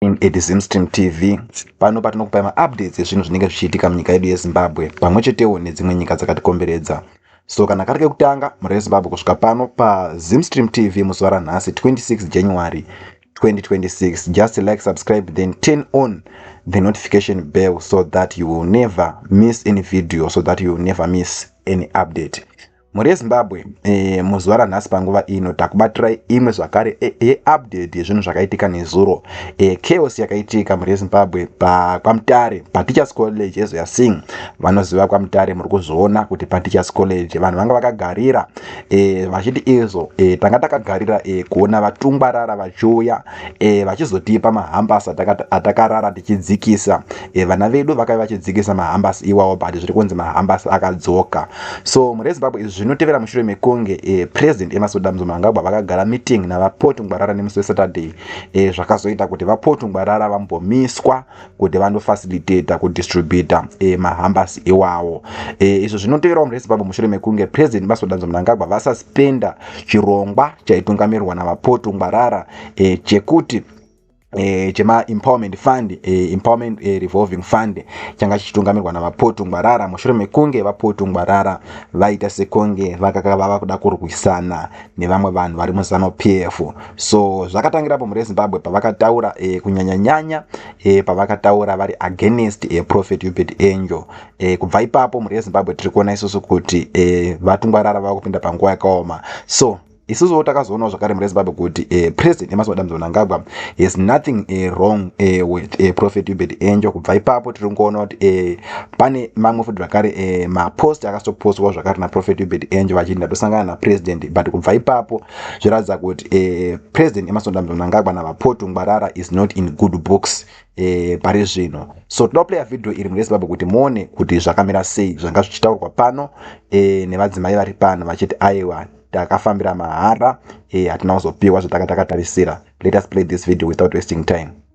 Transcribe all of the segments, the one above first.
In Edizimstim TV, pano patinokupai maupdates ezvinhu zvinenge zvichiitika munyika yedu yeZimbabwe pamwe chetewo nedzimwe nyika dzakatikomberedza. So kana kari kekutanga mhuri yeZimbabwe kusvika pano paZimstream TV muzuva ranhasi 26 January 2026 just like subscribe then turn on the notification bell so that you will never miss any video so that you will never miss any update mhuri yezimbabwe e, muzuva ranhasi panguva ino takubatirai imwe zvakare eh, yeupdate e, yezvinhu zvakaitika nezuro e, chaos yakaitika mhuri yezimbabwe pakwamutare pateachers college ezoya sing vanoziva kwamutare muri kuzviona kuti pateachers college vanhu vanga vakagarira e, vachiti izvo e, tanga takagarira e, kuona vatungwarara vachiuya e, vachizotipa mahambas atakarara tichidzikisa e, vana vedu vakave vachidzikisa mahambas iwawo but zviri kunzi mahambas akadzoka so mhuri yezimbabwe izvi zvinotevera mushure mekunge e, president emasoda mzomangagwa vakagara meeting navapotungwarara nemusi wesaturday e, zvakazoita kuti vapotungwarara vambomiswa kuti vanofacilitator kudistributor e, eh, mahambas iwawo e, eh, izvo zvinoteverawo mune zimbabwe mushure mekunge president masodanzo mnangagwa vasaspenda chirongwa chaitungamirwa navapotu ngwarara e, chekuti E, chema empowerment fund e, empowerment e, revolving fund changa chichitungamirwa navapotu ngwarara mushure mekunge vapotu ngwarara vaita sekunge vakaka vava kuda kurwisana nevamwe vanhu vari muzanu p f so zvakatangira apo mhuri yezimbabwe pavakataura e, kunyanyanyanya e, pavakataura vari against e, prophet ubert angel e, kubva ipapo mhuri yezimbabwe tiri kuona isusu kuti e, vatungwarara vava kupinda panguva yakaoma so isusuwo takazoonawo zvakare mhuri yezimbabwe kuti e, president emas madam zonangagwa has nothing e, wrong e, with e, prophet ubert angel kubva ipapo tiri kuona kuti e, pane mamwe futi zvakare e, mapost akasitopostwa zvakare naprophet ubert angel vachinda tosangana napresident but kubva ipapo zviratidza kuti eh, president emasonda mnangagwa navapotu ngwarara is not in good books eh, pari zvino so tinoda kuplaya vhidhiyo iri murezimbabwe kuti muone kuti zvakamira sei zvanga zvichitaurwa pano eh, nevadzimai vari pano vachiti aiwa takafambira mahara eh, hatina kuzopiwa zvatanga takatarisira let us play this video without wasting time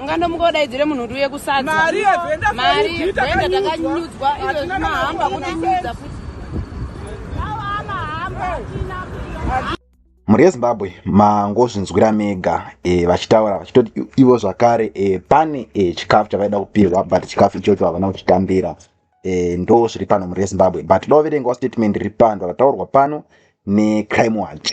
ungandomuka udaidzire munhu kuti uye kusadzamari venda takanyudzwa izvo zvimahamba kutinyudza futi mhuri yezimbabwe mangozvinzwira mega e, vachitaura vachitoti ivo zvakare e, pane e, chikafu chavaida kupihwa but chikafu ichocho havana kuchitambira e, ndo zviri pano mhuri yezimbabwe but doverengawo statement riri pano rataurwa pano necrime watch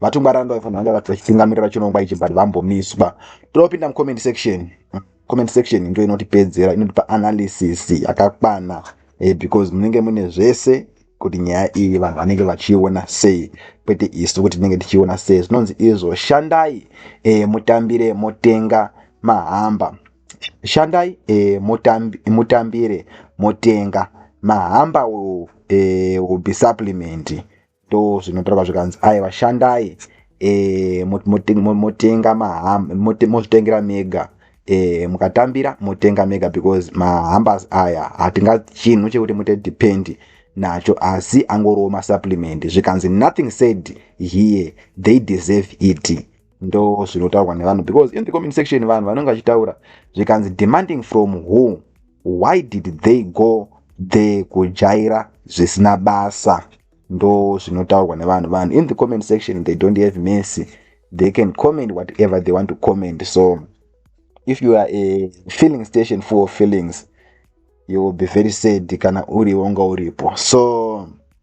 vatungwaranda vaifanira vanga vati vachitungamirira chirongwa ichi but vambomiswa topinda mucomment section comment section ndo inotipedzera inotipa analysis yakakwana eh, because munenge mune zvese kuti nyaya iyi vanhu vanenge vachiiona sei kwete isu kuti tinenge tichiiona sei zvinonzi izvo shandai e, mutambire motenga mahamba shandai e, mutambi, mutambire motenga mahamba will, e, will be supplement ndo zvinotorwa zvikanzi aiva shandai e, motenga maham mozvitengera mega e, mukatambira motenga mega because mahambers aya hatinga chinhu chekuti mute depend nacho asi angorowo masupplement zvikanzi nothing said here they deserve it ndo zvinotaurwa nevanhu because in the comment section vanhu vanenge vachitaura zvikanzi demanding from who why did they go there kujaira zvisina basa ndo zvinotaurwa nevanhu vanhu in the comment section they don't have mercy they can comment whatever they want to comment so if you are a feeling station for feelings you will be very sad kana uriwo nga uripo so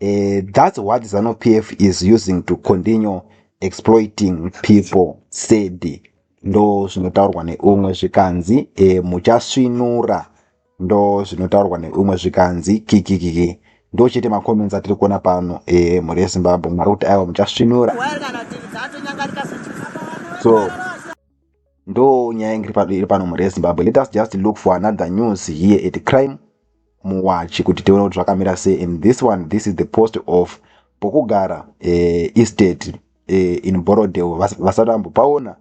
Uh, that's what Zanu PF is using to continue exploiting people said ndo zvinotaurwa neumwe zvikanzi e, muchasvinura ndo zvinotaurwa neumwe zvikanzi kikikiki ndo chete macomments atiri kuona pano e, mhuri yezimbabwe mwari kuti aiwa muchasvinura so ndo nyaya ingiri pano mhuri yezimbabwe let us just look for another news here at crime muwachi kuti tione kuti zvakamira sei and this one this is the post of pokugara eh, estate eh, in borodel vasati vambopaona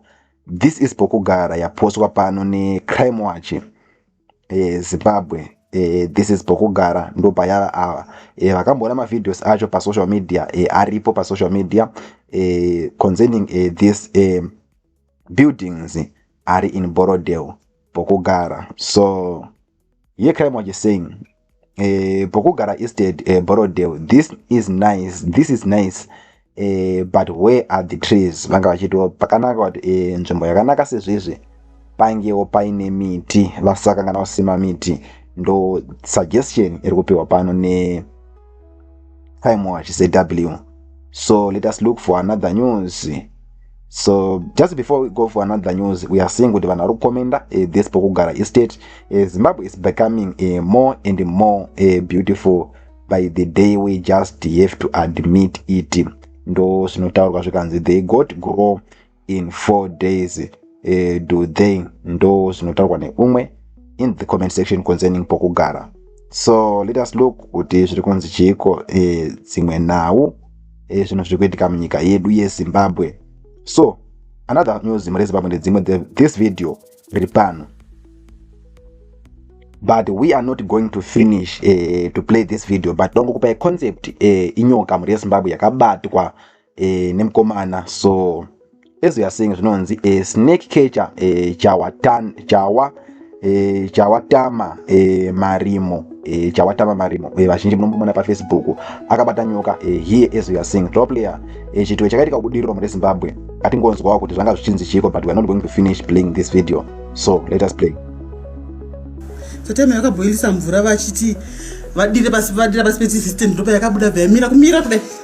this is pokugara yapostwa pano necrime watch eh, zimbabwe eh, this is pokugara ndopayava ava eh, vakamboona mavideos acho pasocial media eh, aripo pasocial media eh, concerning eh, this eh, buildings ari in borodel pokugara so Here Crime Watch is saying, eh, Bokugara Estate, eh, Borrowdale, this is nice, this is nice, eh, but where are the trees? Vanga vachitiwo pakanaka kuti eh, nzvimbo yakanaka sezvizvi pangewo paine miti vasakangana kusima miti ndo suggestion iri kupiwa pano ne time watch saw so let us look for another news so just before we go for another news we are seeing kuti vanhu vari kukomenda uh, eh, this pokugara estate uh, zimbabwe is becoming uh, more and more uh, beautiful by the day we just have to admit it ndo zvinotaurwa zvikanzi they got grow in four days uh, do they ndo zvinotaurwa neumwe in the comment section concerning pokugara so let us look kuti zviri kunzi chiiko eh, dzimwe uh, nhau eh, zvinhu uh, zviri kuitika munyika yedu yezimbabwe so another news mune zimbabwe ndedzimwe this video riri pano but we are not going to finish uh, to play this video but ndongokupai concept uh, inyoka mhuri yezimbabwe yakabatwa eh, nemkomana so as we are saying zvinonzi eh, snake catcher eh, chawatan chawa eh, chawatama eh, marimo eh, chawatama marimo eh, vazhinji munombomona pafacebook akabata nyoka eh, here as we are saying top player eh, chitwe chakaitika kubudiriro mune zimbabwe atingonzwawo kuti zvanga zvichinzi chiko but we are not going to finish playing this video so let us play tatema yakabhoilisa mvura vachiti vadire pasi vadira pasi petsisystem ndopa yakabuda vayamira kumira kudai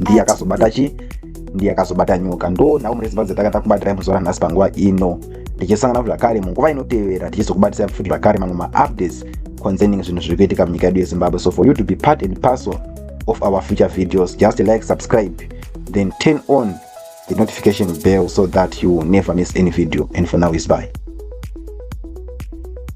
ndiye akazobata chi ndiye akazobata nyoka ndo nhau mune zimbabwe dzatanga takubatira muzuva nhasi panguva ino ndichisangana zvakare munguva inotevera ndichizokubatisai futi zvakare mamwe maupdates concerning zvinhu zviri kuitika munyika yedu yezimbabwe so for you to be part and parcel of our future videos just like subscribe then turn on the notification bell so that you will never miss any video and for now is bye